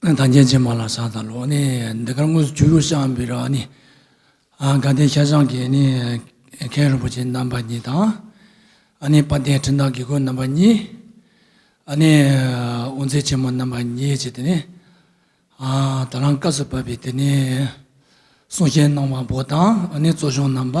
ཨ་ཐང་རྒྱལ་ཆེན་མ་ལ་ས་ད་ལོ་ནི་འདི་གར་དངོས་སུ་བྱུས་རུ་ཤངས་པི་ར་ནི་དགའ་ལྡན་ཤ་ཆང་གི་ནི་མཁན་རིན་པོ་ཆེ་རྣམ་པ་གཉིས་དང། དཔལ་ལྡན་འཕྲིན་བདག་དགེ་བསྐོས་རྣམ་པ་གཉིས། དབུ་མཛད་ཆེན་མོ་རྣམ་པ་གཉིས་བཅས་ཏེ་ནི། ད་རང་སྐབས་སུ་བབས་པའི་དེ་ནི་གསུང་བཤད་གནང་བ་པོ་དང་གཙོ་སྐྱོང་རྣམ་པ།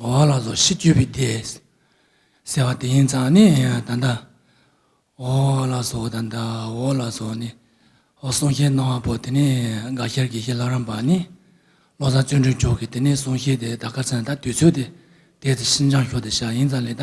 འོག་ལ་སོགས་ཤིས་བརྗོད་པའི་སྡེས། གསལ་བ་དེ་ཡིན་ཙང་ནི་ད་ལྟ། འོག་ལ་སོགས་ད་ལྟ་འོག་ལ་སོགས་ནི། འོག་གསུང་བཤད་གནང་བ་པོ་དེ་ནི་དགའ་ཤར་དགེ་བཤེས་ལྷ་རམས་པ་ནི། བློ་བཟང་བརྩོན་འགྲུས་མཆོག་གིས་དེ་ནས་གསུང་བཤད་དེ་ད་ག་ཚོད་ད་དུས་ཚོད་དེ་དེའི་ཚེ་ཤིན་སྦྱངས་ཤོག་དེ་ཤག་ཡིན་ཙང་ལས་ད་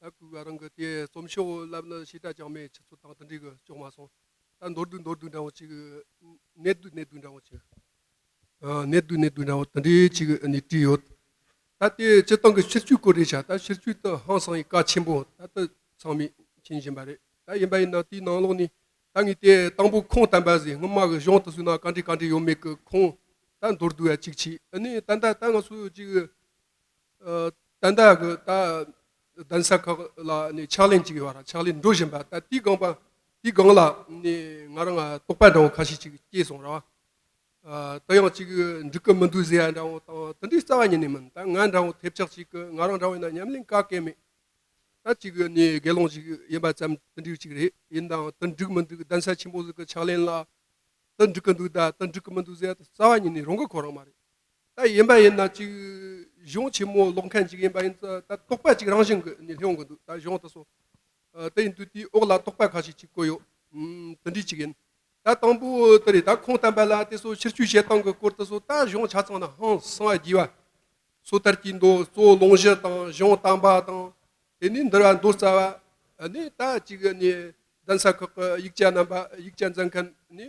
ད་གུས་པ་རང་གི་དེ་རྩོམ་ཆེན་འོག་བསླབ་ན་ཞེ་དྲག་ཅང་མེད་ཁྱེད་ཚོ་དང་དེ་འདྲའི་གི་ཅོག་མ་སོང་ད་མདོར་བསྡུས་མདོར་བསྡུས་འདྲ་བོ་ཅིག་གི་གནད་བསྡུས་གནད་བསྡུས་འདྲ་བོ་ཅིག་གནད་བསྡུས་གནད་བསྡུས་འདྲ་བོ་དེ་འདྲའི་ཅིག་གི་ནས་བྲིས་ཡོད་ད་དེ་སྤྱིར་བཏང་གི་ཕྱིར་བཅོས་སྐོར་རེད་བྱ་ད་ཕྱིར་བཅོས་དེ་ཧང་སང་ཡི་ཀ་ཆེན་པོ་ད་ད་ཚང་མས་མཁྱེན་བཞིན་པ་རེད་ད་ཡིན་པ་ཡིན་ན་དེའི་ནང་ལོགས་ནས་ད་ངས་དེ་དང་པོ་ཁུངས་བསྟན་པ་བཟས་སྔོན་མ་གི་གཞུང་དུ་བསུས་ན་ག་འདྲས་ག་འདྲས་ཡོད་མེད་གི་ཁུངས་ད་མདོར་བསྡུས་བ་ཅིག་བྱས་ཨ་ནི་ད་ད་ད་ང་ཚོས་ཅིག་ཏན་ཏན་གྱི་ད་གདན་ས་ཁག་ལ་ནི་ཕྱག་ལེན་གཅིག་ཡོད་ར་ཕྱག་ལེན་འགྲོ་བཞིན་པ་ད་དེའི་སྒང་པ་དེའི་སྒང་ལ་ནི་ང་རང་རྟོག་པ་འདྲ་བོ་ཁ་ཤས་ཅིག་སྐྱེས་སོང་ར་བ། ད་ཡང་ཅིག་འགྲིག་གི་མི་འདུག་ཟེར་ཡ་འདྲ་བོ་དང་དེ་འདྲའི་རྩ་བ་ཉིད་ནས་མིན་ད་ང་འདྲ་བོ་ཐེབས་ཆག་ཅིག་གི་ང་རང་འདྲ་བོ་ཡིན་ན་ཉམས་ལེན་ག་གེ་མེད་ད་ཅིག་གི་ནི་དགེ་སློང་ཅིག་ཡིན་པ་ཙམ་དེ་འདྲའི་ཅིག་རེད་ཡིན་ནའང་དེ་འགྲིག་མི་འདུག་གདན་ས་ཆེན་པོ་ཟིག་གི་ཕྱག་ལེན་ལ་དེ་འགྲིག་གི་འདུག་ད་དེ་འགྲིག་གི་མི་འདུག་ཟེར་ཡ་ད་རྩ་བ་ཉིད་ནས་རང་གི་ཁོ་རང་མ་རེད། ལྟར་ཡིན་པ་ཡིན་ན་ཅིག། གཞུང་ཆེན་མོ་ཀློག་མཁན་ཅིག་ཡིན་པ་ཡིན་ཚེ་ད་རྟོག་པ་ཅིག་རང་བཞིན་གྱིས་ནི་ལྷུང་གི་འདུག་ད་གཞུང་དེ་སོང། དེ་ཡིན་དུས་དེའི་འོག་ལ་རྟོག་པ་ཁ་ཤས་ཅིག་བཀོད་ཡོད། དེ་འདྲའི་ཅིག་ཡིན། ད་དང་པོ་དེ་རེད་ད་ཁུངས་བསྟན་པ་ལ་དེ་སོགས་ཕྱིར་བཅོས་བྱེད་སྟངས་ཀྱི་སྐོར་དེ་སོགས་ད་གཞུང་ཆ་ཚང་ནི་ཧང་སངས་རྒྱས་པ། སོ་ཐར་གྱི་མདོ་གཙོ་བོ་ལུང་བཞི་དང་གཞུང་བསྟན་པ་དང། དེ་ནས་འདིར་བ་མདོ་རྩ་བ། ནི་ད་ཅིག་ནི་གདན་ས་ཁག་གི་ཡིག་ཆ་རྣམ་པ་ཡིག་ཆ་མཛད་མཁན་ནི།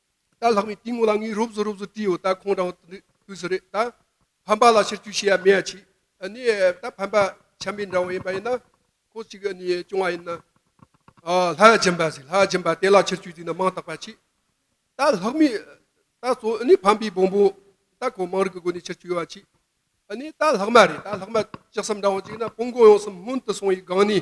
ད་ལྷག་པའི་གཏིང་ངོ་ལ་ངའི་རོབ་བཟོ་རོབ་བཟོ་བྲིས་ཡོད་ད་ཁོང་རང་དུས་སུ་རེད་ད། ཕམ་པ་ལ་ཕྱིར་བསྐྱུར་བྱས་ཡ་མེད་ཡ་ཆི། ནི། ད་ཕམ་པ་ཆམ་པའི་འདྲ་བོ་ཡིན་པ་ཡིན་ན། ཁོ་གཅིག་གི་ནི་སྐྱོང་བ་ཡིན་ན། ལྷ་ཡ་སྦྱིན་པ་ཟེར་ལྷ་ཡ་སྦྱིན་པ་དེ་ལ་ཕྱིར་བསྐྱུར་དུས་ན་མང་དག་པ་ཆི། ད་ལྷག་མི། ད་གཙོ། ནི་ཕམ་པའི་བོང་བུ། ད་ཁོ་དམངས་རིགས་ཀྱི་སྒོ་ནས་ཕྱིར་བསྐྱུར་ཡོད་པ་ཆི། ནི། ད་ལྷག་མ་རེད་ད་ལྷག་མ་ལྕགས་སམ་འདྲ་བོ་ཅིག་ན་སྤུན་གོང་ཡོང་སམ་སྔོན་དུ་སོང་བའི་སྒང་ནས།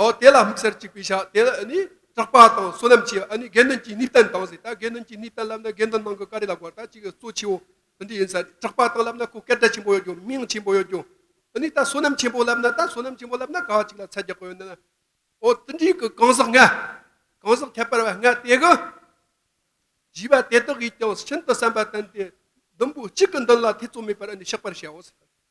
ཨོ་དེ་ལ་དམིགས་བསལ་གཅིག་པའི་ཞག་དེ་ལ་ནི་སྐྲག་པ་དང་བསོད་ནམས་ཆེ་བ་ནི་དགེ་འདུན་གྱི་ནུས་བསྟན་དང་ཟེར་ད་དགེ་འདུན་གྱི་ནུས་བསྟན་བསླབ་ན་དགེ་འདུན་ནང་གི་ཀ་རི་ལ་སྒོར་ད་ཅིག་གཙོ་ཆེའོ་དེ་འདྲ་ཡིན་ས་རེད་སྐྲག་པ་དང་བསླབ་ན་ཁོ་སྐད་སྒྲ་ཆེན་པོ་ཡོད་རྒྱུ་མིང་ཆེན་པོ་ཡོད་རྒྱུ་ཨ་ནི་ད་བསོད་ནམས་ཆེན་པོ་བསླབ་ན་ད་བསོད་ནམས་ཆེན་པོ་བསླབ་ན་ག་ཅིག་ལ་ཚད་རྒྱག་གི་ཡོད་ན་ཨོ་དེ་འདྲའི་གི་གང་ཟག་ལྔ་གང་ཟག་ཁྱད་པར་བ་ལྔ་དེ་གི་བཞི་བ་དེ་དག་གིས་ཀྱང་ཤིན་ཏུ་བསམ་པ་བསྟན་ཏེ་བདུན་པོ་གཅིག་གི་མདུན་ལ་ཐེ་ཚོམ་མེད་པར་ཨ་ནི་གཤེགས་པར་བྱའོ་ཟེར་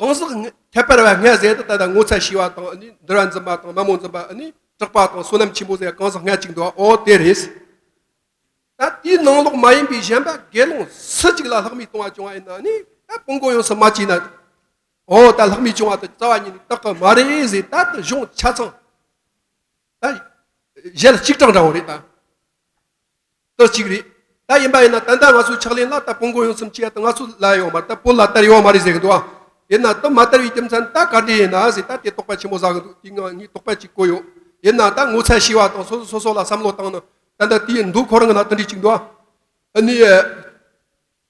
གང་ཟག་ཁྱད་པར་བ་ལྔའི་རྫས་དང་ད་ལྟ་ངོ་ཚ་ཞི་བ་དང་འདུལ་བ་འཛིན་པ་དང་མ་མོ་འཛིན་པ་ནི་དྲག་པ་དང་བསོད་ནམས་ཆེན་པོ་ཟེར་གང་ཟག་ལྔ་གཅིག་འདུལ་བའོ་དེ་རེད། ད་དེའི་ནང་ལོགས་མ་ཡིན་པའི་གཞན་པ་དགེ་སློང་སུ་གཅིག་ལ་ལྷག་མའི་ལྟུང་བ་བྱུང་བ་ཡིན་ན་ནི་ད་སྤོང་གོང་ཡོངས་སུ་མ་བཅིངས་ན། འོ་ད་ལྷག་མའི་བྱུང་བ་དང་རྩ་བ་ཉིད་ནི་རྟག་གི་མ་རེད་ཟེར་ད་དེ་གཞུང་ཆ་ཚང་ད་གཞལ་གཅིག་གྲངས་འདྲ་བོ་རེད་ད། ལྟོས་གཅིག་རེད། ད་ཡིན་པ་ཡིན་ན་ད་ལྟ་ང་ཚོའི་ཕྱག་ལེན་ལ་ལྟ་སྤོང་གོ་ཡོང་ཚུལ་མཆིས་ཡ་ད་ང་ཚོ་ལ་ཡོང་མ་ལྟ་སྤོ་ལ་ལྟར་ཡོང་མ་རེད་ཟེར་གི་འདུག་ཨ། དེས་ན་ལྟོ་མ་ལྟར་བའི་རྒྱུ་མཚན་ད་ག་འདྲས་ཡིན་ན་ཟེར་ད་དེ་དོགས་པ་ཆེན་པོ་བཟའ་གི་འདུག་དེ་ངང་ངས་དོགས་པ་གཅིག་བཀོད་ཡོང། དེས་ན་ད་ངོ་ཚ་ཤེས་བ་དང་སོ་སོ་སོ་སོ་ལ་བསམ་བློ་བཏང་ན་ད་ལྟ་དེ་འདུག་ཁོ་རང་གི་ལ་ལྟོས་འདྲི་གཅིག་འདུག་ཨ། ཨ་ནི།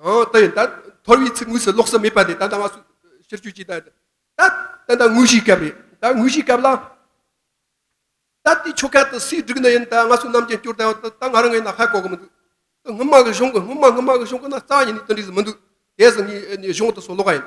ད་ཡིན། ཐོར་བའི་ཚིག་དངོས་སུ་ལོགས་སུ་མེད་པ་དེ་ད་ལྟ་བ་སུ་ཕྱིར་བཅོས་བྱས། ད་ད་ད་དངོས་གཞིའི་སྐབས་རེད། ད་དངོས་གཞིའི་སྐབས་ལ། ད་ལྟའི་ཆོ་ག་དང་སྲིད་སྒྲིག་ནི་ཡིན། ད་སྔ་སུ་རྣམས་ཀྱི་སྐྱོར་ད་ཡོད། ད་ང་རང་ངས་ན་ཧ་གོ་གི་མི་འདུག། སྔོན་མ་གི་གཞུང་གི་སྔོན་མ་སྔོན་མ་གི་གཞུང་གི་ན་རྩ་ཡིན་ནི་དོན་འགྲིག་གི་མི་འདུག། དེ་སྲིད་ངའི་གཞུང་དུ་སོ་ལོ་ག་ཡིན།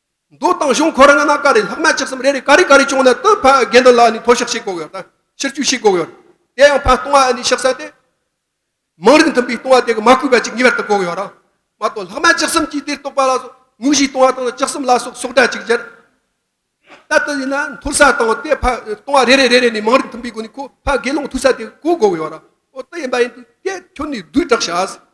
མདོ་དང་གཞུང་འཁོར་ལྔ་ན་ཀ་རེ་ལྷག་མ་ལྕགས་སམ་རེ་རེ་ཀ་རེ་ཀ་རེ་བྱུང་ན་དེའི་ཕ་རྒན་དེ་ལ་ནི་ཐོ་ཞག་ཞིག་བསྒོག་ཡོད་དམ་ཕྱིར་བཅུ་ཞིག་བསྒོག་ཡོད། དེ་ཡང་ཕ་སྟོང་བ་ཨ་ནི་ཞག་ས་ཏེ། མང་རིགས་མཐུན་པའི་སྟོང་བ་དེ་གི་མ་བསྐུལ་བ་ཅིག་ངེས་པར་དུ་བསྒོག་ཡོད། མ་གཏོགས་ལྷག་མ་ལྕགས་སམ་གྱིས་དེ་རྟོགས་པ་ལ་སོགས་ངུ་བཞིའི་སྟོང་བ་དང་ལྕགས་སམ་ལ་སོགས་སོགས་སྒྲ་ཅིག་ཅར། ད་ལྟ་ཡིན་ན་འཐོར་ས་དང་དེའི་ཕ་སྟོང་བ་རེ་རེ་རེ་རེ་ནི་མང་རིགས་མཐུན་པའི་སྒོ་ནས་ཁོ་ཕ་དགེ་སློང་ཐུག་ས་དེ་གོ་བསྒོག་ཡོད། འོ་དེ་ཡིན་པ་ཡིན་དུས་དེ་ཁྱོད་ནི་བསྡུས་གྲགས་བྱ།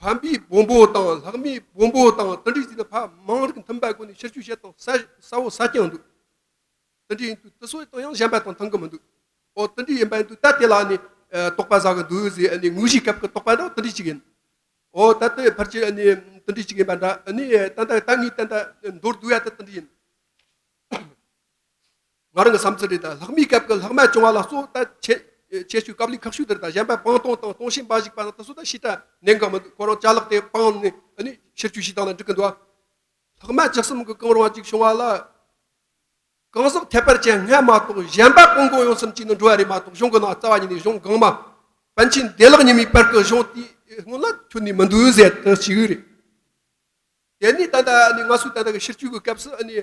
བམ་པའི་སྦོམ་པོ་དང་ལྷག་མའི་སྦོམ་པོ་དང་ཏི་འབྲི་ཟིན་ན་ཕག་མང་རིགས་མཐུན་པ་དགོས་ནས་ཕྱིར་ཆུ་བཤལ་དང་ས་འོག་ས་རྐྱང་འདུག་ཏི་འབྲི་ཡིན་དུས་ཏི་སོ་ཡི་སྟོང་ཡང་ཞན་པ་དང་ཐང་གི་མི་འདུག་ཨོ་ཏི་འབྲི་ཡིན་པ་ཡིན་དུས་ད་དེ་ལ་ནི་རྟོག་པ་ཟ་གི་འདུག་ཟེ་ནི་ངུ་བཞིའི་སྐབས་ཀྱི་རྟོག་པ་འདྲ་བ་ཏི་འབྲི་གཅིག་ཡིན་ཨོ་ད་ཏི་ཕར་གྱི་ནི་ཏི་འབྲི་གཅིག་ཡིན་པ་འདྲ་ནི་ད་ད་ད་ངའི་ད་ད་མདོར་བསྡུ་བ་ད་ཏི་འབྲི་ཡིན། ང་རང་གི་བསམ་ཚུལ་རེད་ད། ལྷག་མའི་སྐབས་ཀྱི་ལྷག་མ་བྱུང་བ་ལ་གཙོ་བོ་ད། ཁྱད་ཆོས་ཀྱི་སྐབས་ལས་ཁག་ཤུགས་ལྡན་ད་གཞན་པ་སྤང་སྟོང་དང་སྟོང་བཤད་འབའ་ཞིག་པ་ན་ད་སོ་ད་ཤི་ད་ནད་འགག་མི་འདུག་ཁོ་རང་བྱ་ལག་དེ་སྤང་ནས་ནི་ཕྱིར་བཅོས་ཤིག་དང་ལ་འགྲིག་གི་འདུག་ཨ། ལྷག་མ་ཇི་གསུམ་གྱི་གང་རུང་བ་ཅིག་བྱུང་བ་ལ། གང་ཟག་ཁྱད་པར་ཅན་ལྔས་མ་གཏོགས་གཞན་པ་སྤང་གང་ཡོང་སེམས་ཅན་ནི་འགྲོ་བ་རེད་མ་གཏོགས་གཞུང་གི་ནང་རྩ་བ་ཉིད་ནས་གཞུང་གང་མ། པཎ་ཆེན་བདེ་བླག་ཉི་མའི་བར་གྱི་གཞུང་དེའི་སྔོན་ལ་ཐོན་ནས་མི་འདུག་ཟེར་དུ་ཅིག་རེད། དེ་ནས་ད་ནི་ང་སུ་ད་ནི་ཕྱིར་བཅོས་ཀྱི་སྐབས་སུ་ནི།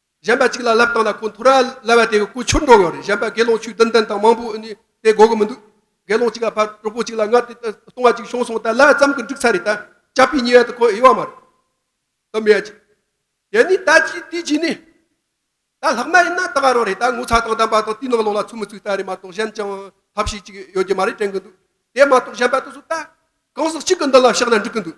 གཞན་པ་གཅིག་ལ་ལབ་བཏང་ན་ཁོ་འཐོར་ར་ལབ་བ་དེ་གི་སྐུ་ཆུར་འགྲོ་གི་ཡོད་རེད་གཞན་པ་དགེ་སློང་ཆོས་བདུན་བདུན་དང་མང་པོ་ནི་དེ་གོ་གི་མི་འདུག་དགེ་སློང་གཅིག་ལ་ཕར་གྲོགས་པོ་གཅིག་ལ་ངར་དེ་སྟོང་བ་གཅིག་ཤོང་སོང་ད་ལ་ཙམ་གི་འགྲིག་ཚར་རེད་ད་ཅག་པའི་ཉེ་བའི་དུ་ཁོ་དབྱེ་བ་མ་རེད་དམ་ཡ་ཅིག་དེ་ནི་ད་ཅིག་དེ་ཅིག་ནི་ད་ལྷག་མ་ཡིན་ན་ད་ག་རང་རེད་ད་ངོ་ཚ་དང་དམ་པ་དང་དུས་ནག་ལོག་ལ་ཚུགས་མི་ཚུགས་ལྟ་རེད་མ་གཏོགས་གཞན་ཅང་ཐབས་ཤེས་ཅིག་ཡོད་ཀྱི་མ་རེད་དྲན་གི་འདུག་དེ་མ་གཏོགས་གཞན་པ་དུ་སུ་ད་གང་ཟག་གཅིག་གི་མདུན་ལ་བཤགས་ན་འགྲིག་གི་འདུག།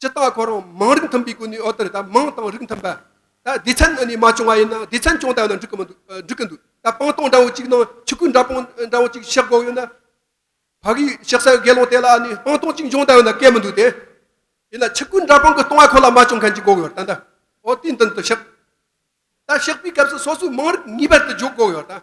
ཇི་ལྟར་ཁོ་རང་མང་རིགས་མཐུན་པའི་སྒོ་ནས་ཨོ་ཏི་རི་དང་མང་དང་རིགས་མཐུན་པ། ད་སྡེ་ཚན་ནང་ནས་མ་བྱུང་བ་ཡིན་ན་སྡེ་ཚན་ཆུང་དག་ནང་འགྲིག་གི་འདུག་ད་སྤང་ཐང་འདྲ་བོ་གཅིག་ནང་ཆུ་ཁུལ་འདྲ་པོ་འདྲ་བོ་གཅིག་གཤེགས་དགོས་ཡོད་ན། ཕ་གིའི་གཤེགས་སའི་དགེ་སློང་དེ་ལ་ནི་སྤང་ཐང་གཅིག་འབྱུང་དག་ཡོད་ན་སྐལ་མི་འདུག་དེ། ཡིན་ན་ཆུ་ཁུལ་འདྲ་པོ་གི་སྟོང་བ་ཁོ་ལ་མ་བྱུང་མཁན་གྱི་དགོས་ཡོད་ད། ཨོ་ཏི་མདུན་དུ་གཤེགས། ད་གཤེགས་པའི་སྐབས་སུ་སོ་སོའི་མང་རིགས་ངེས་པར་དུ་འཇོག་དགོས་ཡོད་ད།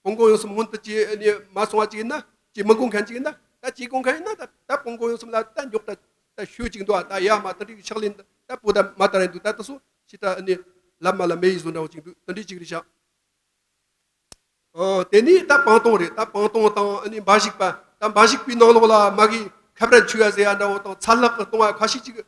སྤོང་གོང་ཡོང་གསུམ་སྔོན་དུ་ཅི་མ་སོང་བ་ཅིག་ཡིན་ན་ཅི་མི་སྒོང་མཁན་ཅིག་ཡིན་ན་ད་ཅི་སྒོང་མཁན་ཡིན་ན་ད་སྤོང་གོང་ཡོང་གསུམ་ལ་ད་མགྱོགས་ད་ད་ཤོད་ཅིག་འདུག་ད་ཡར་མ་ད་འདྲི་ཕྱག་ལེན་ད་སྤོ་ད་མ་ད་རེད་འདུག་ད་ད་སོང་ཕྱི་ད་ལབ་མ་ལ་མེ་ཡི་བཟོ་འདྲ་བོ་ཅིག་འདུག་ད་འདྲི་ཅིག་རེ་ཕྱག། དེ་ནས་ད་སྤང་སྟོང་རེད་ད་སྤང་སྟོང་དང་འབའ་ཞིག་པ་ད་འབའ་ཞིག་པའི་ནང་ལོགས་ལ་མ་གིའི་ཁབ་ར་མཆུ་བ་བཟེ་བ་འདྲ་བོ་དང་ཚ་ལྷག་གི་སྟོང་བ་ཁ་ཤས་ཅིག་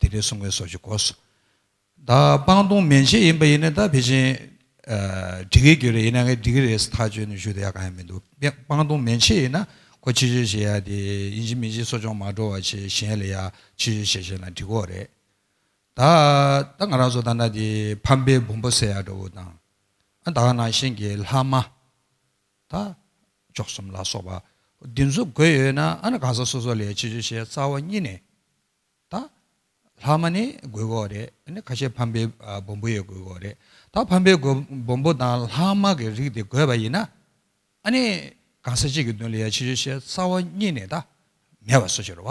དེ་ལས་གསུང་བའི་སོགས་ཀྱི་གོ། བདག་སྤང་ལྟུང་མན་ཆད་ཡིན་པ་ཡིན་ན་ད་བེད་ཅིང་འགྲིག་གི་རེད་ཡིན་ན་ངས་འགྲིག་གི་རེད་ཐག་གཅོད་ནས་ཞུ་ད་ཡག་གང་ཡང་མི་འདུག་སྤང་ལྟུང་མན་ཆད་ཡིན་ན་ཁོ་ཕྱི་བཤོལ་བྱེད་ཡ་དེ་ཡིན་གཅིག་མིན་གཅིག་གསོ་སྦྱོང་མ་འགྲོ་བ་ཆེད་གཞན་ལ་ཡ་ཕྱི་བཤོལ་བྱེད་བཞིན་ན་འགྲིག་གོ་རེད། ད་ད་ང་རང་ཚོ་ད་ན་དེ་ཕམ་པའི་བུམ་པོ་བསད་ཡ་འདྲ་བོ་དང་ཨ་ད་ག་ནང་བཞིན་གྱི་ལྷག་མ། དང། མཆོག་གསུམ་ལ་སོགས་པ་བདུན་གཟུགས་བགོས་ཡོད་ན་ཨ་གང་ཟག་སོ་སོ་ལས་ཕྱི་ཆོས་ཤེས་རྩ་བ་གཉིས་ནས་དང། ལྷག་མ་ནི་དགོས་མཁོ་རེད། ཁ་ཤས་ཕམ་པའི་སྦོམ་པོ་ཡོད་དགོས་མཁོ་རེད། ད་ཕམ་པའི་སྦོམ་པོ་དང་ལྷག་མ་གི་རིགས་དེ་དགོས་པ་ཡིན་ན། ཨ་ནི་གང་ཟག་གཅིག་གི་བདུན་ལས་ཕྱི་ཆོས་ཤེས་རྩ་བ་གཉིས་ནས་དང། མེད་པ་སོ་ཕྱིར་བ།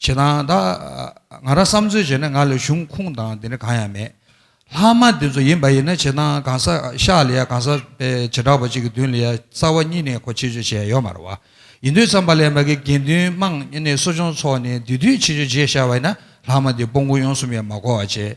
བྱེད་དང། ད་ང་རང་བསམ་ཚོད་བྱས་ན་ང་ལ་གཞུང་ཁུངས་དང་དེ་འདྲ་གང་ཡང་མེད། ལྷག་མ་འདི་ཚོ་ཡིན་པ་ཡིན་ན་བྱེད་དང་གང་ས་ཤག་ལ་ཡ་གང་ས་པའི་བྱེ་བྲག་པ་གཅིག་གི་མདུན་ལ་ཡ་རྩ་བ་གཉིས་ནས་གོ་ཆེ་ཆོས་བྱས་ཡོད་མ་རེད་བ། ཡིན་དུས་བསམ་པ་ལས་མ་གི་དགེ་འདུན་དམངས་གནས་གསོ་སྦྱོང་ཚོགས་ནས་དུས་དུས་ཆེ་ཆོས་བྱས་ཤག་བ་ཡིན་ན་ལྷག་མ་འདི་སྤོ་མགོ་ཡོང་གསུམ་ཡང་མ་གོ་བ་བྱས།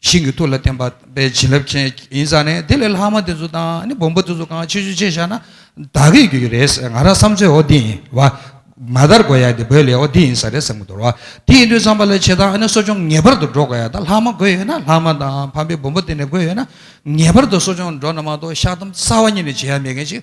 ཤིང་གི་ཐུར་ལ་བརྟེན་པ་པའི་བྱིན་རླབས་ཅན་ཡིན་ས་ནས་དེ་ལས་ལྷག་མ་དེ་ཚོ་དང་ནི་སྦོམ་པོ་དེ་ཚོ་གང་ཆེ་ཆུ་ཆེ་བཞག་ན་བདག་གིས་རྒྱུ་ཡི་རེད་ཟེར་ང་རང་བསམ་ཚོད་ཨོ་དེ་ཡིན་བ། མ་དར་གོ་ཡ་དེ་བོད་ལས་ཨོ་དེ་ཡིན་ས་རེད་བསམ་གི་འདུག་བ། དེ་ཡིན་དུས་བསམ་པ་ལ་བྱེད་ད་ནི་གསོ་སྦྱོང་ངེས་པར་དུ་འགྲོ་དགོས་ཡ་ད་ལྷག་མ་དགོས་ཡོད་ན་ལྷག་མ་དང་ཕམ་པའི་སྦོམ་པོ་དེ་ནས་དགོས་ཡོད་ན་ངེས་པར་དུ་གསོ་སྦྱོང་འགྲོ་ན་མ་གཏོགས་བཤགས་སྡོམ་རྩ་བ་ཉིད་ནས་བྱེད་ཡ་མེད་མཁན་ཞིག་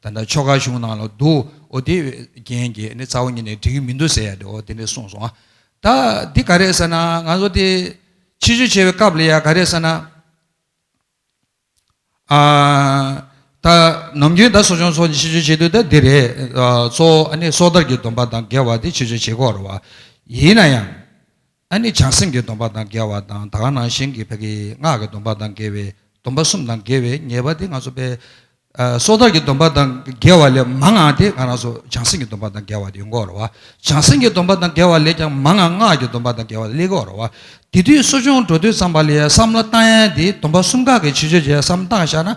ད་ལྟ་ཆོ་ག་གཞུང་ནང་ལ་འདུག་འོ་དེ་རྒྱན་གྱི་ནི་རྩ་བ་ཉིད་ནས་འགྲིག་གི་མི་འདུག་ཟེར་ཡ་འོ་དེ་འདྲས་གསུངས་སོང་ང། ད་འདི་ག་རེད་ཟེར་ན་ང་ཚོ་དེ་ཕྱི་བཤོལ་བྱས་པའི་སྐབས་ལ་ཡ་ག་རེད་ཟེར་ན། ད་ནམ་རྒྱུན་ད་གསོ་སྦྱོང་སོགས་ཀྱི་ཕྱི་བཤོལ་བྱེད་དུས་ད་འདི་རེད། གཙོ་བོ་ཨ་ནི་སྲོག་ཐར་གྱི་སྡོམ་པ་དང་འགལ་བ་དེ་ཕྱི་བཤོལ་བྱེད་དགོས་རུང་བ། ཡིན་ན་ཡང། ཨ་ནི་བྱང་སེམས་ཀྱི་སྡོམ་པ་དང་འགལ་བ་དང་ད་ག་ནང་བཞིན་གྱི་བག་གི་སྔགས་ཀྱི་སྡོམ་པ་དང་འགལ་བའི་སྡོམ་པ་གསུམ་དང་འགལ་བའི་ཉེས་པ་དེ་ང་ཚོ་པའི་སྲོག་ཐར་གྱི་སྡོམ་པ་དང་འགལ་བ་ལས་མང་ང་དེ་ག་ནང་ཚོ་བྱང་སེམས་ཀྱི་སྡོམ་པ་དང་འགལ་བ་དེ་ཡོང་གོ་རོ། བྱང་སེམས་ཀྱི་སྡོམ་པ་དང་འགལ་བ་ལས་ཀྱང་མང་ང་སྔགས་ཀྱི་སྡོམ་པ་དང་འགལ་བ་སླེ་གོ་རོ། དེ་དུས་གསོ་སྦྱོང་འགྲོ་དུས་ཙམ་པ་ལས་བསམ་བློ་བཏང་ཡན་དེ་སྡོམ་པ་གསུམ་ག་གི་ཆེ་ཆོས་ཀྱི་བསམ་སྟངས་བཞག་ན།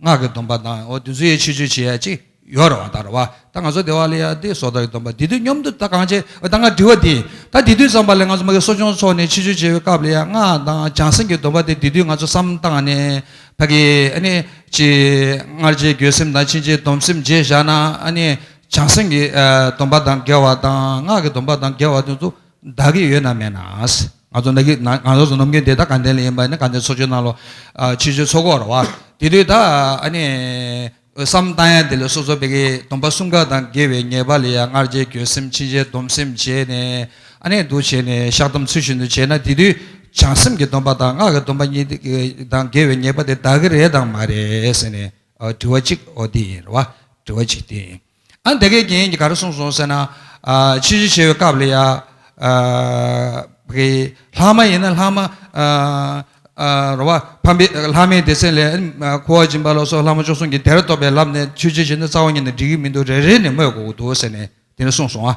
སྔགས་ཀྱི་སྡོམ་པ་དང་བདུན་ཚུལ་ཡས་ཆོས་སྤྱོད་བྱེད་ཡ་གཅིག་ཡོར་བ་དར་བ་ད་ང་སོ་དེ་བ་ལ་ཡ་དེ་སོ་དར་གྱི་སྡོམ་པ་དེ་དུས་སྙོམས་དུ་ད་གང་བྱེད་ད་ང་དྲི་བ་དེ་ད་དེ་དུས་ཙམ་པ་ལས་ང་ཚོ་མ་གི་གསོ་སྦྱོང་ཚོགས་ནས་ཆོས་སྤྱོད་བྱེད་པའི་སྐབས་ལ་ཡ་སྔགས་དང་བྱང་སེམས་ཀྱི་སྡོམ་པ་དེ་དེ་དུས་ང་ཚོ་བསམ་བཏང་ནས་ད་གི་ཨ་ནི་ཅི་སྔར་རྗེས་འགྱོད་སེམས་དང་ཕྱིན་ཆད་སྡོམ་སེམས་བརྗེད་བཞག་ན་ཨ་ནི་བྱང་སེམས་ཀྱི་སྡོམ་པ་དང་འགལ་བ་དང་སྔགས་ཀྱི་སྡོམ་པ་དང་འགལ་བ་དུས་ཚོད་བདག་གིས་ཡོད་ན་མེད་ན། ང་ཚོ་ནམ་རྒྱུན་དེ་ད་གང་དེ་ལ་ཡིན་པ་ནི་གང་དེ་འཚོ་བཅུད་གནང་ལོ། ཕྱི་བཅུད་འཚོ་གོ་ར་བ། དེ་དུས་ད་ནི་བསམ་བཏང་ཡ་དེ་ལས་སོ་སོ་བད་ཀི་སྡོམ་པ་གསུམ་ཀ་དང་དགེ་བའི་ཉེས་པ་ལས་ཡ་མངར་བྱེད་འགྱོད་སེམས་འཆིང་བྱེད་སྡོམ་སེམས་བྱེད་ནས་ཨ་ནེ་འདུ་བྱེད་ནས་བཤགས་སྡོམ་ཚུལ་བཞིན་དུ་བྱེད་ན་དེ་དུས་བྱང་སེམས་ཀྱི་སྡོམ་པ་དང་སྔགས་ཀྱི་སྡོམ་པ་གཉིས་དང་དགེ་བའི་ཉེས་པ་དེ་བདག་གི་རེད་དང་མ་རེད་ཟེར་ནས་དྲི་བ་གཅིག་འོ་དེ་ཡིན་ར་བ་དྲི་བ་གཅིག་དེ་ཡིན། ཨ་འདི་གའི་རྒྱན་གྱིས་ག་རེ་གསུངས་སོང་ཟེར་ན། ཕྱི་བཞི་བྱེ་བའི་སྐབས་ལ་ཡང། ལྷག་མ་ཡིན་ན་ལྷག་མ། རོ་བ། ཕམ་པའི་ལྷག་མའི་སྡེ་ཚན་ལས། ཁུ་བ་སྦྱིན་པ་ལ་སོགས་ལྷག་མ་བཅུ་གསུམ་གྱི་དེར་རྟོག་པའི་ལབ་ནས་ཆོས་རྗེ་བཞི་ནི་རྩ་བ་ཉིད་ནས་འགྲིག་གི་མི་འདུག་རེ་རེ་ནས་སྨོས་དགོས་ཀྱི་འདུག་ཟེར་ནས་དེ་ནས་གསུངས་སོང་ང།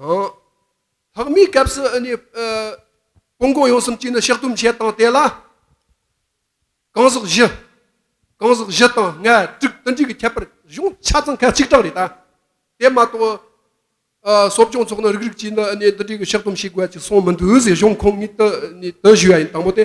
ལྷག་མའི་སྐབས་སུ་སྤོ་འགོག་ཡོང་གསུམ་གྱིས་ནི་ཕྱག་དུམ་བྱས་དང་དེ་ལ་གང་ཟག་བཞི། གང་ཟག་བཞི་དང་ལྔ་དྲུག་ཏུ་འདྲིས་ཀྱི་ཁྱད་པར་གཞུང་ཆ་ཚང་ཁ་གཅིག་གྲངས་རེད་ད། དེ་མ་གཏོགས་གསོ་སྦྱོང་ཚོགས་ནི་རིགས་རིགས་ཀྱིས་ནི་འདི་འདྲའི་ཕྱག་དུམ་བྱེད་དགོས་ཀྱི་གསུངས་མི་འདུག་ཟེར་གཞུང་ཁོངས་ཉིད་དུ་ཞུས་ཡ་ཡིན་དང་པོ་དེ།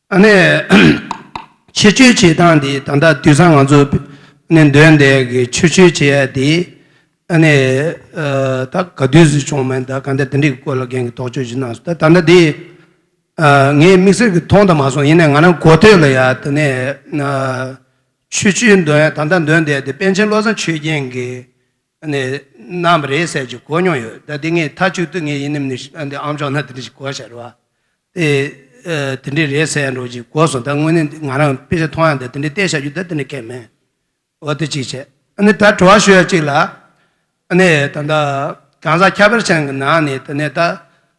ཨ་ནེ། ཕྱི་བཅོས་བྱེད་སྟངས་འདི་ད་ལྟ་དུས་སང་ང་ཚོ་ནས་འདོན་འདས་ཀྱི་ཕྱི་བཅོས་བྱེད་ཡ་དེ་ཨ་ནེ། ད་ག་དུས་སུ་བྱུང་མིན་ད་ག་འདི་འདི་འདྲི་གི་སྐོར་ལ་རྒན་གྱི་དོགས་དཔྱོད་ཅིག་གནང་སོང་ད་ད་ལྟ་འདི་ངའི་དམིགས་བསལ་གྱི་མཐོང་དང་མ་སོང་ཡིན་ནའི་ང་རང་གོ་ཐོས་ལ་ཡ་དེ་ནས་ཕྱི་བཅོས་འདོན་ད་ལྟ་འདོན་འདས་འདི་པན་ཆེན་བློ་བཟང་ཆོས་རྒྱན་གྱི་ནས་ནམ་རེ་ཟས་ཀྱི་གོ་མྱོང་ཡོད་ད་དེ་ངའི་ཐག་ཆོད་དུ་ངའི་ཡིན་ནམ་ནི་ཨ་འདི་ཨམ་ཅོག་ན་དེ་འདྲ་ཞིག་གོ་ཤར་བ་དེ་དེ་འདྲ་རེད་ཟེར་ཡང་འགྲོ་ཅིག་གོ་སོང་ད་དངོས་གནས་ང་རང་དཔེ་ཆ་མཐོང་ཡང་ད་དེ་འདྲ་བལྟས་བཞག་རྒྱུ་ད་དེ་འདྲ་ཁས་མེད་འོ་དེ་གཅིག་བྱས་ཨ་ནི་ད་དྲི་བ་ཞུ་ཡ་གཅིག་ལ་ཨ་ནི་ད་ད་གང་ཟག་ཁྱད་པར་ཅན་གྱི་ནང་ནས་ད་ནས་ད་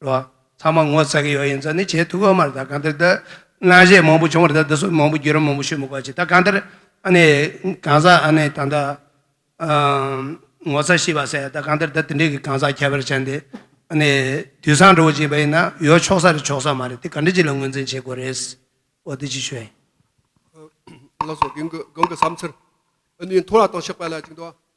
ལོ། ཚང་མ་ངོ་ཚ་གི་ཡོད་ཡིན་ཙང་ནི་བྱེད་ཐུབ་ཨ་མ་ད་གང་འདིར་ད་སྔ་གཞས་མང་པོ་བྱུང་བར་ད་འདི་ཚོ་མང་པོ་བརྒྱུད་རིམ་མང་པོ་ཤོད་མི་དགོས་ཅི་ད་གང་འདིར་ཨ་ནི་གང་ཟག་ཨ་ནི་ད་ད་ངོ་ཚ་ཤི་བ་ཟེར་ད་གང་འདིར་ད་དེ་འདྲའི་གི་གང་ཟག་ཁྱད་པར་ཅན་དེ་ཨ་ནི་དུས་སང་འགྲོ་གི་བྱས་པ་ཡིན་ན་ཡོད་ཆོག་ས་རེད་ཆོག་ས་མ་རེད་དེ་གང་འདྲི་ཅི་ལ་ངོས་འཛིན་བྱེད་དགོས་རེད། འོ་དེ་ཅི་ཞོད་ཡིན། བླ་སྲོག་གིང་གི་གང་གི་བསམ་ཚུལ། ཨ་ནི་མཐོ་ར་དང་ཕྱག་དཔེ་ལ་གཅིག་འདུག་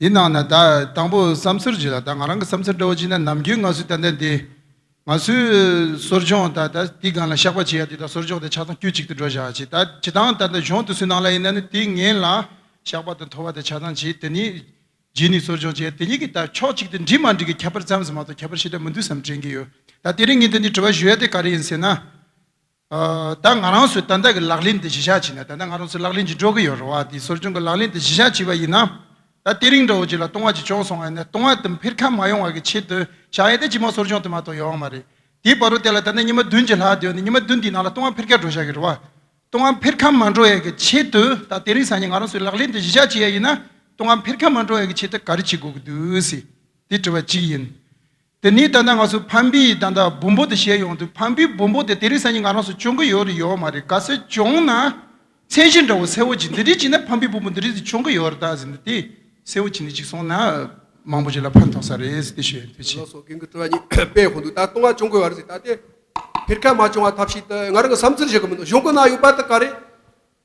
དེའི་ནང་ན་ད་དང་པོ་བསམ་ཚུལ་བརྗོད་ལ་ད་ང་རང་གི་བསམ་ཚུལ་འདྲ་བོ་བྱིན་ན་ནམ་རྒྱུན་ང་ཚོས་ད་ལྟ་འདི་ང་ཚོའི་གསོར་སྦྱོང་ད་ད་དེའི་སྒང་ལ་བཤགས་པ་བྱེད་ཡ་དེ་ད་གསོར་སྦྱོང་དེ་ཆ་ཚང་དཀྱུས་གཅིག་ཏུ་འགྲོ་བཞག་བྱེད་ད་བྱེད་སྟངས་ད་ད་གཞུང་དུ་སུས་གནང་ལ་ཡིན་ན་ནི་དེའི་ངན་ལ་བཤགས་པ་དང་ཐོ་བ་དེ་ཆ་ཚང་བྱེད་དེ་ནི་རྗེས་ནས་གསོར་སྦྱོང་བྱེད་ཡ་དེ་གཉིས་ཀྱི་ད་ཕྱོགས་གཅིག་ཏུ་འགྲིག་མ་འགྲིག་གི་ཁྱད་པར་ཙམ་ཟེར་མ་གཏོགས་ཁྱད་པར་ཞེ་དྲག་མི་འདུག་བསམ་དྲན་གྱི་ཡོད་ད་དེ་རིང་ངས་འདི་འདྲའི་དྲི་བ་ཞུ་ཡ་དེ་ག་རེ་ཡིན་ཟེར་ན། ད་ང་རང་ཚོས་ཏན་ཏན་གྱི་ལག་ལེན་དེ་གཞི་བཞག་བྱས་ན་ད་ལྟ་ང་རང་ཚོས་ལག་ལེན་གྱིས་འགྲོ་གི་ཡོད་རེད་བ་དེ་སོར་བྱུང་གི་ལག་ལེན་དེ་གཞི་བཞག་བྱས་པ་ཡིན་ན། ད་ལྟེ་རིང་འདྲ་བོ་ཅིག་ལ་ལྟུང་བ་ཅིག་བྱུང་སོང་བས་ན་ལྟུང་བ་དེ་འཕེར་ཁ་མ་ཡོང་བ་གི་ཆེད་དུ་བྱ་ཡས་ཏེ་ཅི་མ་སོར་བྱུང་དེ་མ་གཏོགས་ཡོང་བ་མ་རེད། དེའི་བར་དུ་དེ་ལ་ད་ལྟ་ཉི་མ་བདུན་གྱི་ལྷག་སྡོད་ནས་ཉི་མ་བདུན་དེའི་ནང་ལ་ལྟུང་བ་འཕེར་ཁ་འགྲོ་བཞག་གི་རེད་བ། ལྟུང་བ་འཕེར་ཁ་མ་འགྲོ་ཡས་གི་ཆེད་དུ་ད་ལྟེ་རིང་སང་ཉིན་ང་རང་ཚོས་ལག་ལེན་དེ་གཞི་བཞག་བྱས་ཡས་ཡིན་ན་ལྟུང་བ་འཕེར་ཁ་མ་འགྲོ་ཡས་གི་ཆེད་དུ་ག་རེ་བྱེད་དགོས་གི་འདུག་ཟེར། དེ་དྲི་བ་གཅིག་ཡིན། དེ་ནི་ད་ལྟ་ང་ཚོ་ཕམ་པི་ཡི་ད་ལྟ་བུམ་པོ་དེ་བཞེས་ཡོང་དུས་ཕམ་པིའི་བུམ་པོ་དེ་དེ་རིང་སང་ཉིན་ང་རང་སོ་བྱུང་གི་ཡོད་རེད་ཡོད་མ་རེད་ག་སེ་བྱུང་ན་མཚན་གཞི་འདྲ་བོ་གསལ་བོ་ཅིག་འདི་འདྲའི་ཅིག་ན་ཕམ་པིའི་བུམ་པོ་འདི་རིང་སི་བྱུང་གི་ཡོད་རེད་ད་ཟེར་འདི་དེ་གསལ་བོ་ཅིག་འདི་ཅིག་སོང་ན་མང་པོ་ཅིག་ལ་ཕན་ཐོགས་ས་རེད་ཟེར་ཏེ་བཤད་ཡོང་དུས་ཕྱིན། ལོགས་སུ་རྒན་གི་སྤྲོ་བ་ཉིད་དཔེ་ཧོན་དུ་ད་ལྟ་ང་བྱུང་གི་ཡོད་རེད་ཟེར་ད་ལྟའི་བེར་ཁ་མ་བྱུང་བ་ཐབས་ཤེས་ད་ང་རང་གི་བསམ་ཚུལ་བཞིན་གྱི་མི་འདུག་གཞུང་གི་ནང་ཡོད་པ་དེ་ག་རེད།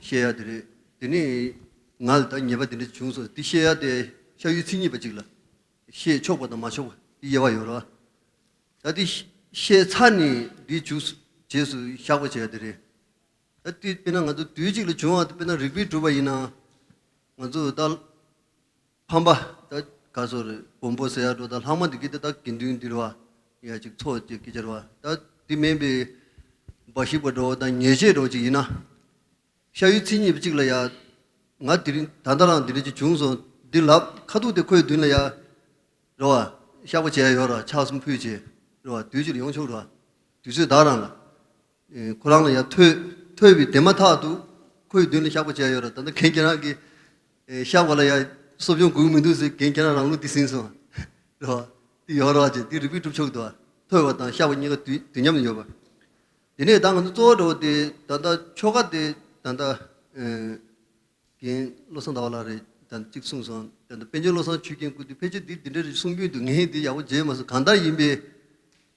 བཤད་ཡག་དེ་རེད། དེ་ནས་ང་ལ་ད་ཉེས་པ་དེ་འདྲ་བྱུང་སོང་དེ་བཤད་ཡག་དེ་ཤ་ཡུའི་ཚིག་གཉིས་པ་ཅིག་ལ། བཤད་ཆོག་པ་དང་མ་ཆོག་པ་དེ་དབྱེ་བ་ཡོད་རོ། ད་དེ་བཤད་ཚར་ནས་དེའི་འཇུག་རྗེས་སུ་བཞག་པ་བྱས་ཡག་དེ་རེད། ད་དེ་དཔེར་ན་ང་ཚོ་དུས་གཅིག་ལ་བྱུང་བ་དཔེར་ན་རིག་པས་གྲུབ་པ་ཡིན་ན། ང་ཚོ་ད། ཕམ་པ་དག་ག་སོགས་རེད། བོང་བུ་ཟེ་ཡག་སྒྲོ་དང་ལྷག་མ་འདི་གི་དེ་དག་དགེ་འདུན་འདིར་བ་ཡག་ཅིག་འཚོ་བཅས་ཀྱིས་སྦྱར་བ་ད་འདི་སྨན་པའི་འབའ་ཞིག་པ་འགྲོ་བ་དང་ཉེས་བྱས་འགྲོ་ཅིག་ཡིན་ན། ཤ་ཡུའི་ཚིག་གཉིས་པ་གཅིག་ལ་ཡག། ང་དེ་རིང་ད་ལྟ་རང་འདི་རིང་ཅིག་བྱུང་སོང་འདི་ལབ་ཁ་ཐུག་དེ་ཁོའི་མདུན་ལ་ཡག། རོ་བ། ཤག་པ་བྱས་ཡོད་ར་ཕྱག་གསུམ་ཕུལ་བྱས། རོ་བ། དུས་ཕྱིར་ཡོང་ཆོག་རོ་བ། དུས་ཚོད་བདག་རང་ལ། ཁོ་རང་ལ་ཡང་ཐོས། ཐོས་པའི་དེ་མ་ཐག་ཏུ་ཁོའི་མདུན་ལ་བཤགས་པ་བྱས་ཡོད་ར་ད་ནི་གན་རྐྱལ་རང་གིས་བཤགས་པ་ལ་ཡང་གསོ་སྦྱོང་དགོས་ཀྱི་མི་འདུག་ཟེར་གན་རྐྱལ་རང་རང་ལུགས་འདི་ཟིན་སོང། རེད་བ། འདི་ཡོང་རོགས་ཅེས་འདི་རིག་པའི་སྒྲུབ་ཕྱོགས་དུ་བ། ཐོས་པ་དང་བཤགས་པ་གཉིས་ཀ་དུས་དུས་མཉམ་དུ་ཡོད་པ། དེ་ནས་ད་ང་ཚོ་གཙོ་བོ་འགྲོ་བ་དེ་ད་ལྟ་ཆོ་ག་དེ་ད་ལྟ། གན་བློ་བཟང་ཟླ་བ་ལགས་རེད་ད་ནི་གཅིག་གསུངས་སོང་ད་ནི་དཔལ་ཆེན་བློ་བཟང་ཆོས་རྒྱན་སྐུ་དུས་ཕལ་ཆེར་འདི་འདི་འདྲ་རེད་གསུངས་རྒྱུན་དུ་ངས་འདི་ཡག་པོ་བརྗེད་མ་སོང་གང་ལྟར་ཡིན་པའི།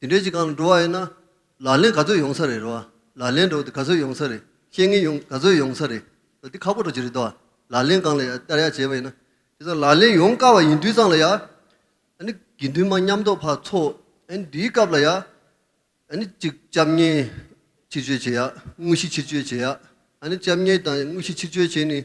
དེ་འདྲའི་གཅིག་གང་ལ་འགྲོ་བ་ཡོད་ན། ལག་ལེན་ག་ཚོད་ཡོང་ས་རེད་རེད་བ། ལག་ལེན་འགྲོ་དེ་ག་ཚོད་ཡོང་ས་རེད། བཤེས་གཉེན་ཡོང་ག་ཚོད་ཡོང་ས་རེད། འདི་ཁག་པོ་འགྲོ་གི་རེད་དོ། ལག་ལེན་གང་ལ་ཡང་བསྟར་ཡག་བྱས་པ་ཡིན་ན། དེ་ཚོ་ལག་ལེན་ཡོང་དཀའ་བ་ཡིན་དུས་ཙང་ལ་ཡང། ཨ་ནི་དགེ་འདུན་མ་མཉམ་རྡོ་ཕག་ཚོ། ཨ་ནི་འདིའི་སྐབས་ལ་ཡང། ཨ་ནི་གཅིག་སྐྱབས་གཉེན་ཕྱིར་བཅོས་བྱེད་ཡག། དངོས་གཞི་ཕྱིར་བཅོས་བྱེད་ཡག། ཨ་ནི་སྐྱབས་གཉེན་དང་དངོས་གཞི་ཕྱིར་བཅོས་བྱས་ནས།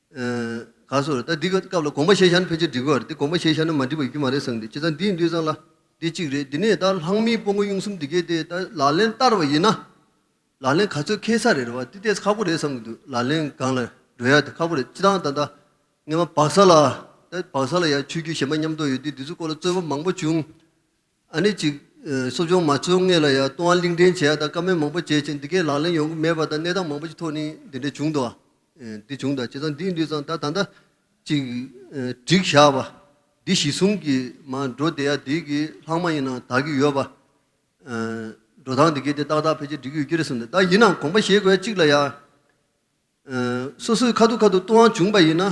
ག་སོར་ད་འདི་ག་སྐབས་ལ་དགོངས་པ་བཞེས་ཤར་ནི་ཕལ་ཆེར་འགྲིག་གི་བར་དེ་དགོངས་པ་བཞེས་ཤར་ན་མ་འགྲིག་པའི་རྒྱུ་མ་རེད་བསམ་གི་བྱས་ཙང་འདིའི་འདུས་ཙང་ལ་འདི་གཅིག་རེད་འདི་ནས་ད་ལྷག་མིའི་སྤོ་མགོ་གཡུང་གསུམ་འདི་གས་ཏེ་ད་ལག་ལེན་བསྟར་བ་ཡིན་ན། ལག་ལེན་ག་ཚོད་ཁེལ་ས་རེད་བ་འདི་ལྟས་ཁག་པོ་རེད་བསམ་གི་འདུག་ལག་ལེན་སྒང་ལ་འགྲོ་ཡ་དེ་ཁག་པོ་རེད་སྤྱི་བཏང་ད་ད་ངེ་བ་བག་ས་ལ་ད་བག་ས་ལ་ཡ་ཆོས་རྒྱུད་གཞན་པ་མཉམ་གཏོགས་ཡོད་དུས་འདི་ཚོའི་སྐོར་ལ་རྩོད་པ་མང་པོ་བྱུང། ཨ་ནི་ཅིག། གསོ་སྦྱོང་མ་བཅོ་ལྔས་ལ་ཡང་ལྟུང་བ་གླིང་ཕྲན་བྱས་ཡ་དང་བཀའ་མོལ་མང་པོ་བྱས་ཀྱིན་འདི་གའི་ལག་ལེན་ཡོང་གི་མེད་པ་དང་གནས་སྟངས་མང་པོ་ཞིག་ཐོག་ནས་འདི་འདྲ་བྱུང་འདུག་འདི་བྱུང་དང་བྱས་ཙང་འདིས་འདུས་ཙང་ད་ད་ལྟ། ཅིག། བསྒྲིགས་བཞག་པ། འདི་གཞི་བཟུང་གིས་མ་འགྲོ་བསྡད་ཡ་འདི་གི་ལྷག་མ་ཡིན་ནའང་དག་གི་ཡོད་པ། འགྲོ་སྟངས་འདི་གའི་དེ་ཏག་ཏག་ཕལ་ཆེར་འགྲིག་གི་ཡོད་ཀྱི་རེད་བསམས་ཏེ་ད་ཡིན་ནའང་དགོངས་པ་བཞེས་དགོས་ཡ་གཅིག་ལ་ཡང། སོ་སོའི་ཁ་ཐུག་ཁ་ཐུག་ལྟུང་བ་བྱུང་པ་ཡིན་ན།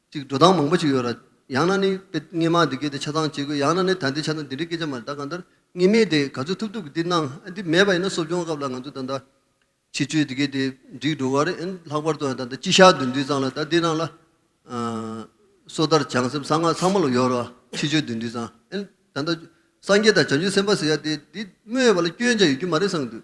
ཅིག་འགྲོ་སྟངས་མང་པོ་ཞིག་ཡོད་ར། ཡང་ན་ནི། དཔེ་རྙེད་མ་འདི་སྐད་དེ་ཆ་ཚང་བྱེད་དགོས་ཡང་ན་ནི་ད་འདི་ཆ་ཚང་འདི་འདྲའི་སྐད་ཆ་མ་རེད་ད་གང་ལྟར་རྙེད་མེད་དེ་ག་ཚོད་ཐུབ་ཐུབ་ཀྱིས་འདི་གནང་ཨ་འདི་མེད་པ་ཡིན་ན་གསོ་སྦྱོང་སྐབས་ལ་ང་ཚོས་ད་ལྟ། ཕྱི་ཆོས་འདི་སྐད་དེ་འགྲིག་འགྲོ་ག་རེད་ཨན་ལྷག་པར་དུ་ཡང་ད་ལྟ་སྤྱི་ཤག་བདུན་འདུས་ཚང་ལ་ད་འདི་གནང་ལ། སོ་ཐར་བྱང་སེམས་གསང་སྔགས་ཚང་མ་ལ་ཡོད་ར་ཕྱི་ཆོས་བདུན་འདུས་ཚང་ཨན། ད་ལྟ་སངས་རྒྱས་དང་བྱང་ཆུབ་སེམས་དཔའ་ཟེར་ཡ་དེ་འདི་སྨོས་པ་ལ་སྐྱོན་ཆ་ཡོད་རྒྱུ་མ་རེད་བསམ་གྱི་འདུག་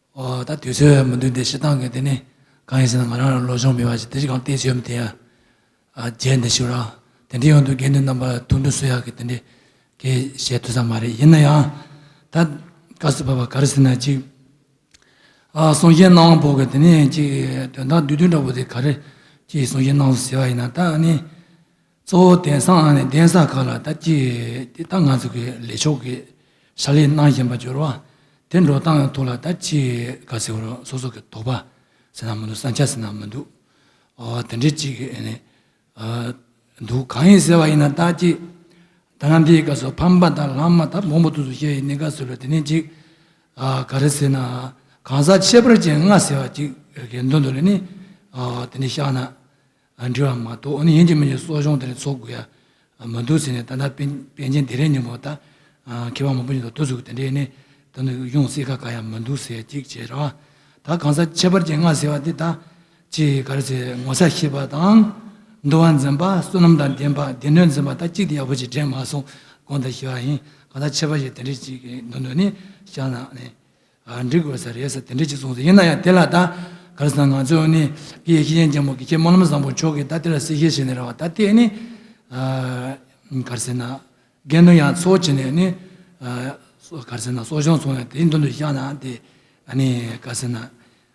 ཨོ་ད་དུས་ཚོད་མི་འདུག་འདི་ཞེ་སྡང་གི་དེ་ནི་གང་ཡིན་ཟེར་ན་ང་རང་ལ་ལོ་ཆུང་མེད་པ་ཞིག་དེ་ཅི་གང་བལྟས་ཆོས་མི་དེ་ཡར་རྒྱས་འདི་ཞུ་རང་དེ་འདྲའི་ཡོང་དུས་དགེ་འདུན་རྣམ་པར་ཐུགས་འདུན་སུ་ཡག་གི་དེ་འདྲའི་གི་བཤད་ཐུབ་ས་མ་རེད་ཡིན་ན་ཡང་ད་བཀའ་བསུ་བབ་པ་ག་རེ་ཟེར་ན་ཅིག་གསུང་བཤད་གནང་བོ་གི་དེ་ནས་ཅིག་དོན་དག་བསྡུས་བསྡུས་འདྲ་བོ་དེ་ག་རེ་ཅིག་གསུང་བཤད་གནང་བོ་ཟེར་བ་ཡིན་ན་ད་ནི་གཙོ་བོ་གདན་ས་ཨང་ནས་གདན་ས་ཁག་ལ་ལྟ་ཅིག་དེ་ལྟ་ང་ཚོ་གི་ལས་ཆོག་གི་ཞར་ལས་གནང་བཞིན་པ་སྦྱོར་བ་དེ་འགྲོ་སྟངས་ཐོག་ལ་ལྟ་ཅིག་ག་ཟེར་རོགས་སོ་སོ་གི་དོགས་པ་ཟེར་ན་མི་འདུག་བསམ་འཆར་ཟེར་ན་མི་འདུག་དེ་འདྲའི་ཅིག་འདུག་གང་ཡིན་ཟེར་བ་ཡིན་ན་ལྟ་ཅིག་ད་ལམ་དེའི་སྐབས་སུ་ཕམ་པ་དང་ལམ་མ་ཐབས་མང་པོ་ཐུགས་སུ་བཤད་ཡིན་ནི་ག་ཟེར་རོགས་དེ་ནས་ཅིག་ག་རེ་ཟེར་ན་གང་ཟག་ཁྱད་པར་ཅན་ལྔ་ཟེར་བ་ཅིག་གི་མདུན་དུ་ལས་ནི་དེ་འདྲའི་བཤགས་ན་ལ་འབྲེལ་བ་མ་གཏོགས་ཡིན་གྱི་མིན་གྱི་གསོ་སྦྱོང་དེ་ལ་འཚོགས་དགོས་ཡ་མི་འདུག་ཟེར་ནས་ད་ལྟ་པན་ཆེན་སྡེ་རས་ཉིན་མོ་ད་མཁས་པ་མང་པོ་ཡིན་འདུག་ཏུ་ཟུག་དེ་འདྲའི་ནི་ད་ནི་ཡོང་སྲིད་ཁ་ག་ཡ་མི་འདུག་ཟེར་ཅིག་བྱས་ར་བ་ད་གང་ཟག་ཁྱད་པར་ཅན་ལྔ་ཟེར་བ་དེ་དག་ཅི་ག་རེ་ཟེར་ངོ་ཚ་ཤེས་པ་དང། འདུལ་བ་འཛིན་པ་བསོད་ནམས་དང་ལྡན་པ་སྡེ་སྣོད་འཛིན་པ་ད་གཅིག་དེ་ཡག་པོ་ཅིག་དྲན་མ་སོང་གང་དང་ཤེས་པ་ཡིན་གང་ཟག་ཁྱད་པར་ཅན་དེ་འདྲའི་ཅིག་གི་མདུན་དུ་ནི་བཞག་ན་ནི། འགྲིག་དགོས་ས་རེད་ཟེར་དེ་འདྲའི་ཅིག་གསུངས་སོང་ཡིན་ན་ཡང་དེ་ལ་ད་ག་རེ་ཟེར་ན་ང་ཚོས་ནི་ཀྱེ་ཡེ་ཤེས་ཅན་རྒྱལ་མོ་ཀྱེ་ཁྱེད་སྨོན་ལམ་བཟང་པོ་མཆོག་གིས་ད་དེ་ལ་སྲིད་ཞེས་བྱས་ནས་ར་བ་ད་དེས་ནི་ག་རེ་ཟེར་ན་རྒན་དོན་ཡང་འཚོ་བྱས་ནས་ནི་ག་རེ་ཟེར་ན་གསོ་སྦྱོང་སོང་ཡང་དེའི་མདུན་དུ་བཞག་ན་དེ་ག་རེ་ཟེར་ན།